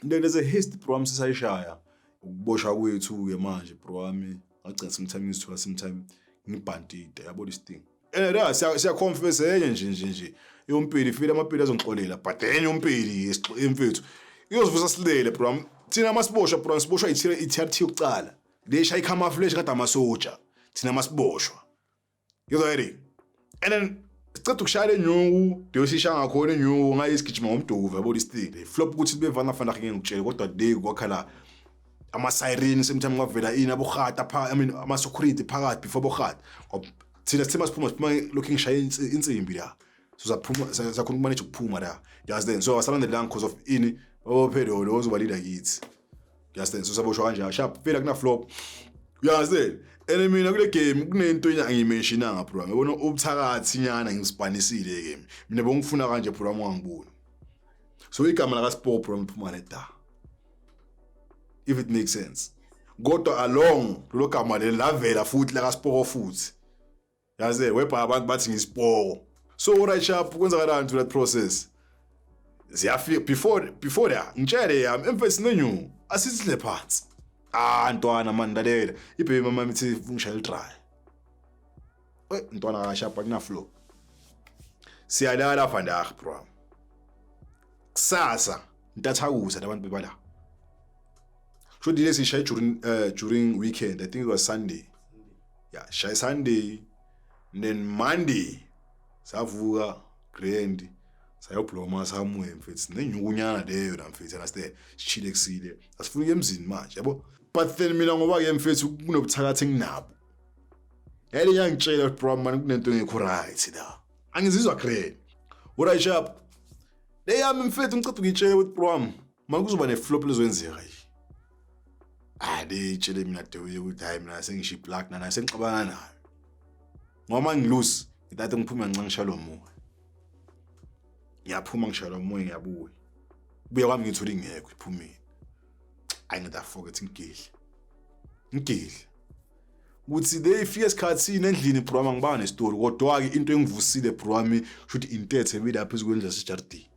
Then there's a history bro wami sisayishaya ukuboshwa kwethu-ke manje bro wami ngagcina sometime ngizithola sometime ngibhantide yabo this thing and eh, siyaconfess enye nje nje nje yompili file amapili azongixolela but enye yompili emfethu iyozivusa silele bro wami thina masiboshwa bro siboshwa i-trt yokucala lesha i-camaflash kade amasoja thina masiboshwa Ngizwa yini? And then siceda ukushaya lenyuku beyosisha ngakhona inyuku ngaye isigijima ngomduku yabo lisithile flop ukuthi bevana fana ngeke ngikutshele kodwa today kwakhala ama siren sometimes kwavela ini abohata pha i mean ama security phakathi before bohata thina sithema siphuma siphuma looking shaya insimbi la so saphuma sakhona ukumanage ukuphuma la you understand so asalandelanga because of ini ophelo lo ozoba leader kithi you understand so saboshwa kanjalo sharp phela kuna flop you understand and mina kule game kunento engiyimentionanga bro ngibona ubuthakathi nyana ngispanisile game mina bongifuna kanje bro wami wangibona so igama laka sport bro ngiphuma ne da if it makes sense kodwa along lelo gama leli lavela futhi laka sport futhi yaze webha abantu bathi ngisipoko so right sharp kwenzakalani to that process ziyafika before before la ngitshele yami emfesi nenyu asizile phansi ah ntwana mani lalela ibhebi mama mithi ngishaya idry eh ntwana kashapa kuna flow siyalala vandag bro kusasa ntathakuza labantu bebala sho dilesi shaya during uh, during weekend i think it was sunday ya shay sunday then monday savuka grand sayobloma somewhere mfethu nenyukunyana leyo la mfethu and stay sichile kusile asifuni emzini manje yabo but then mina ngoba ke mfethu kunobuthakathi nginabo yale yangitshela bro man kunento engekho right la angizizwa grand what i shop leyami mfethu ngicela ukuyitshela ukuthi bro Uma kuzoba ne-flop lizoyenzeka yini? Hayi leyitshele mina Dewuye ukuthi hayi mina sengisho i-plug nana sengixabana nayo. Ngoba ngilose ngithathe ngiphume nxa ngishaya lo moya. Ngiyaphuma ngishaya lo moya ngiyabuya. Kubuya kwami ngithola ingekho iphumile. Ayi ngida forget ngigidle. Ngigidle. ukuthi le ifike esikhathini endlini bro wami angibanga nesitori kodwa-ke into engivusile bro wami kusho ukuthi intethe ebile apha ezikwenza sejardini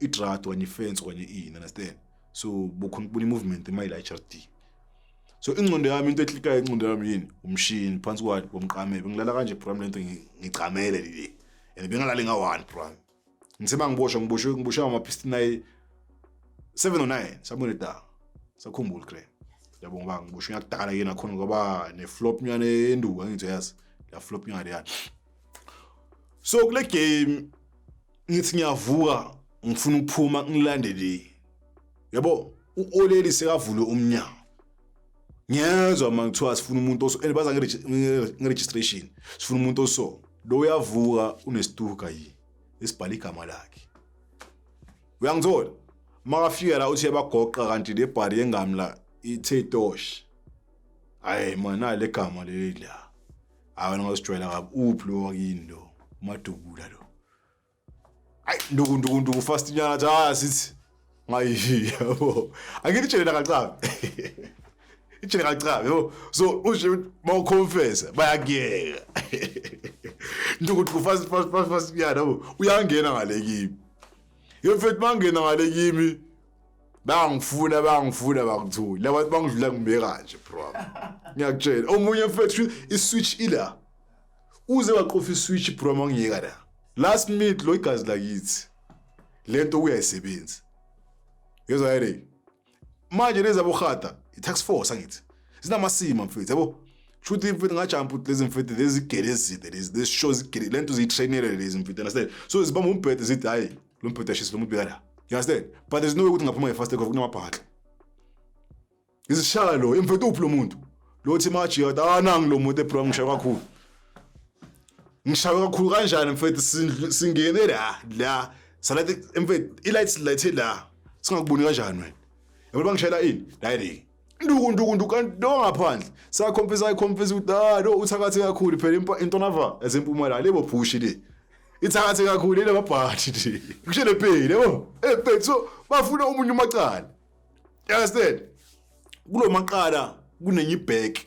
idrad okanye ifence okanye ini understand so bukhona ukubona i-movement emayila i-hrd so ingcondo yami into eklikayo ingcondo yami yini umshini phansi kwani komqamebe ngilala kanje bram le nto ngicamele lile and bengalali nga-one bram ngiseba ngiboshwa ngiboshwe ngiboshwe ngama-piston ayi seven o oh nine sabona edaka sakhumbula kre yabonga uba ngiboshwe ngakudala yena khona ngoba ne-flop nyana enduka ngithi yazi la flop nyana leyana so kule game ngithi ngiyavuka ngifuna ukuphuma ngilande le yabo uoleli sekavule umnyango ngiyezwa uma ngithiwa sifuna umuntu oso and baza nge-registration sifuna umuntu oso lo uyavuka unesituka yini esibhala igama lakhe uyangithola makafika la uthi yabagoqa kanti le bhari yengami la ithe tosh hayi mana le gama leli la hayi wena ngosijwayela kabi uphi lo wakini lo umadubula lo ayi nduku nduku nduku fast nyana athi hayi asithi ngayi yabo angitshele nakacabe itshele kacabe yabo so ushe mawuconfessa bayakuyeka nduku nduku fast fast fast fast nyana yabo uyangena ngale kimi yemfethu mangena ngale kimi bangifuna bangifuna bakuthuli labantu bangidlula ngibeka kanje bro ngiyakutshela omunye mfethu iswitch ila uze waqofa iswitch bro mangiyeka la last minute lo igazi lakithi lento uyayisebenzi yezwa yini manje lezi abohata i-tax force angithi zinamasima mfethu yabo kusho ukuthi mfethu ngajampa ukuthi lezi mfethu lezi gele ezide lezi lezi show zigele le nto ziyi-trainele lezi mfethu understand so zibamba umbhede zithi hhayi lo mbhedashisi lo mubika la you understand but there's no way ukuthi ngaphuma nge-fast takeoff kunamabhaxa izishaya lo emfethu uphi lo muntu lo thi maji yathi anangi lo muntu ebro ngishaye kakhulu ngishaye kakhulu kanjani mfethu sindlu- singene la la salathi emfethu i-lights light la singakuboni kanjani wena yabona bangishayela ini la yini nduku nduku nduku kanti lo ngaphandle sakhompisa ayikhompisa ukuthi ah lo uthakathe kakhulu phela intonava esempumalanga lebo phushi le ithakathe kakhulu ile babhathi nje kushe le pay lebo eh pay so bafuna umunye umacala you understand kulomaqala kunenye ibheki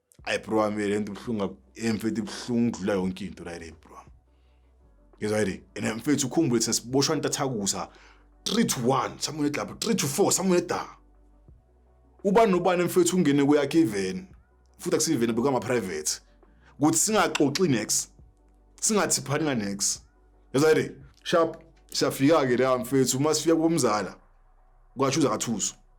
ayi bro wami le nto ibuhlungu emfethu ibuhlungu ukudlula yonke into la le bro ngizwa yini and mfethu ukhumbule thina siboshwa intathakusa 3 to 1 samunye eglabha 3 to 4 samunye eda ubani nobani mfethu ungene kuyakhe iveni futhi akusiveni bekama private ukuthi singaxoxi next singathi phani next ngizwa yini sharp siyafika ke la mfethu uma sifika kumzala kwasho uzakathuso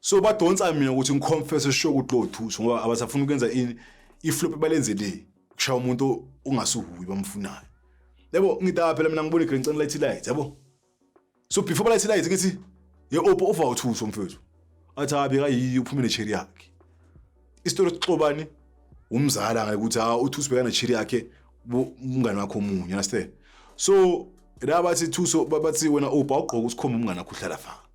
so badonsa mina ukuthi ngiconfesse sure ukuthi lowo thuso ngoba abasafuna ukwenza ini iflop balenze le kushaya umuntu ongasuhuyi bamfunayo yabo ngidaba phela mina ngibona igreen center light light yabo so before balight light ngithi ye opa uva uthuso mfethu athi abi kayiyi uphume necheri yakhe isitori sixobani umzala ngeke ukuthi ha uthuso bekana necheri yakhe umngane wakho omunye understand so la bathi thuso bathi wena opa ugqoka usikhomba umngane wakho uhlala fa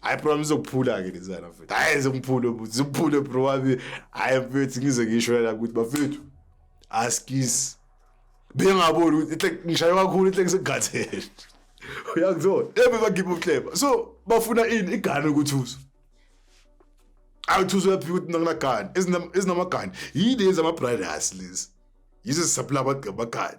hayi bro ngizokuphula-ke lezana mfethu hayi zimphule buthi zimphule bro wami hayi mfethu ngize ngisho la ukuthi bafethu askis bengaboni ukuthi ihle ngishaye kakhulu ihle ngisegathele uyakuzona ebe bagibe uhleba so bafuna ini igane ukuthi uzo awuthuzo yaphi ukuthi nakunagane ezinamagane yini yenza ama-brothers lezi yizo zisapula abagqabagane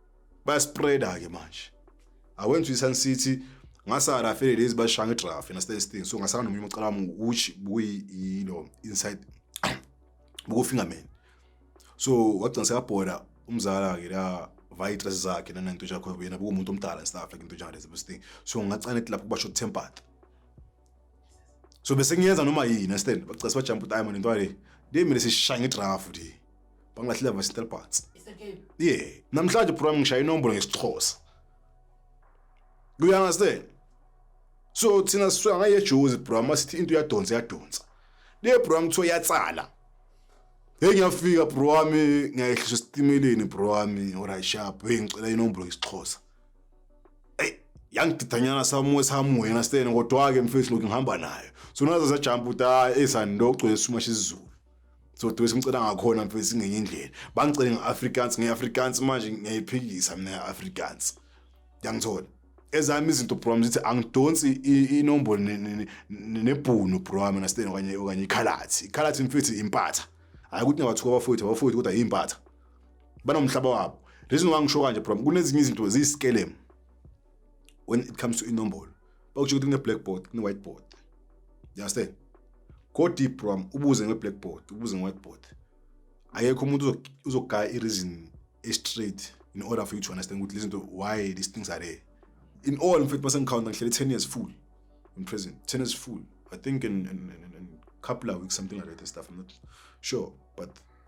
bayaspreada ke manje awenza isan city ngasara afele lezi bashanga idraft and stay thing so ngasara nomunye umcala wami uchi buyi yilo inside buku fingerman so wagcina sekabhoda umzala ke la vaya itress zakhe nananto yakho yena buku umuntu omdala and stuff like into njalo lezi thing so ngacane lapho kubasho tempered so bese ngiyenza noma yini understand bacase bajump time nento yale ndiye mina sishaya ngedrafu nje bangilahlile vasintel parts yeah namhlanje program ngishaya inombolo ngesixhosa you understand so thina sisuka ngayejuzi bro masithi into yadonsa yadonsa le bro ngithiwa yatsala hey ngiyafika bro wami ngiyayehlisa esitimeleni bro wami orayishap hey ngicela inombolo ngesixhosa eyi yangididanyana samuwe samuwena stene kodwa-ke mfethu lokhu ngihamba nayo so nazo zajampa ukuthi hayi eyi sandogcwele isuma sizulu so dwesi ngicela ngakhona mfethu ngenye indlela bangicele nge-afrikaans nge-afrikaans manje ngiyayiphikisa mina nge-afrikaans yangithola ezami izinto bro wami zithi angidonsi i- inombolo ne- ne- ne- nebhunu bro wami nasteni okanye okanye ikhalathi ikhalathi mfethu impatha hhayi ukuthi nabathuka abafowethu abafowethu kodwa yimpatha banomhlaba wabo reason why ngisho kanje problem kunezinye izinto ziyisikelemu when it comes to inombolo bakusho ukuthi kune-blackboard kune-whiteboard you understand go deep bro ubuze nge-blackboard ubuze nge-whiteboard akekho umuntu uzogaya i-reason e-straight in order for you to understand ukuthi lezinto why these things are there in all mfethu basengikhawunta ngihlele 10 years full in prison 10 years full i think in, in, in, in couple of weeks something like that stuff i'm not sure but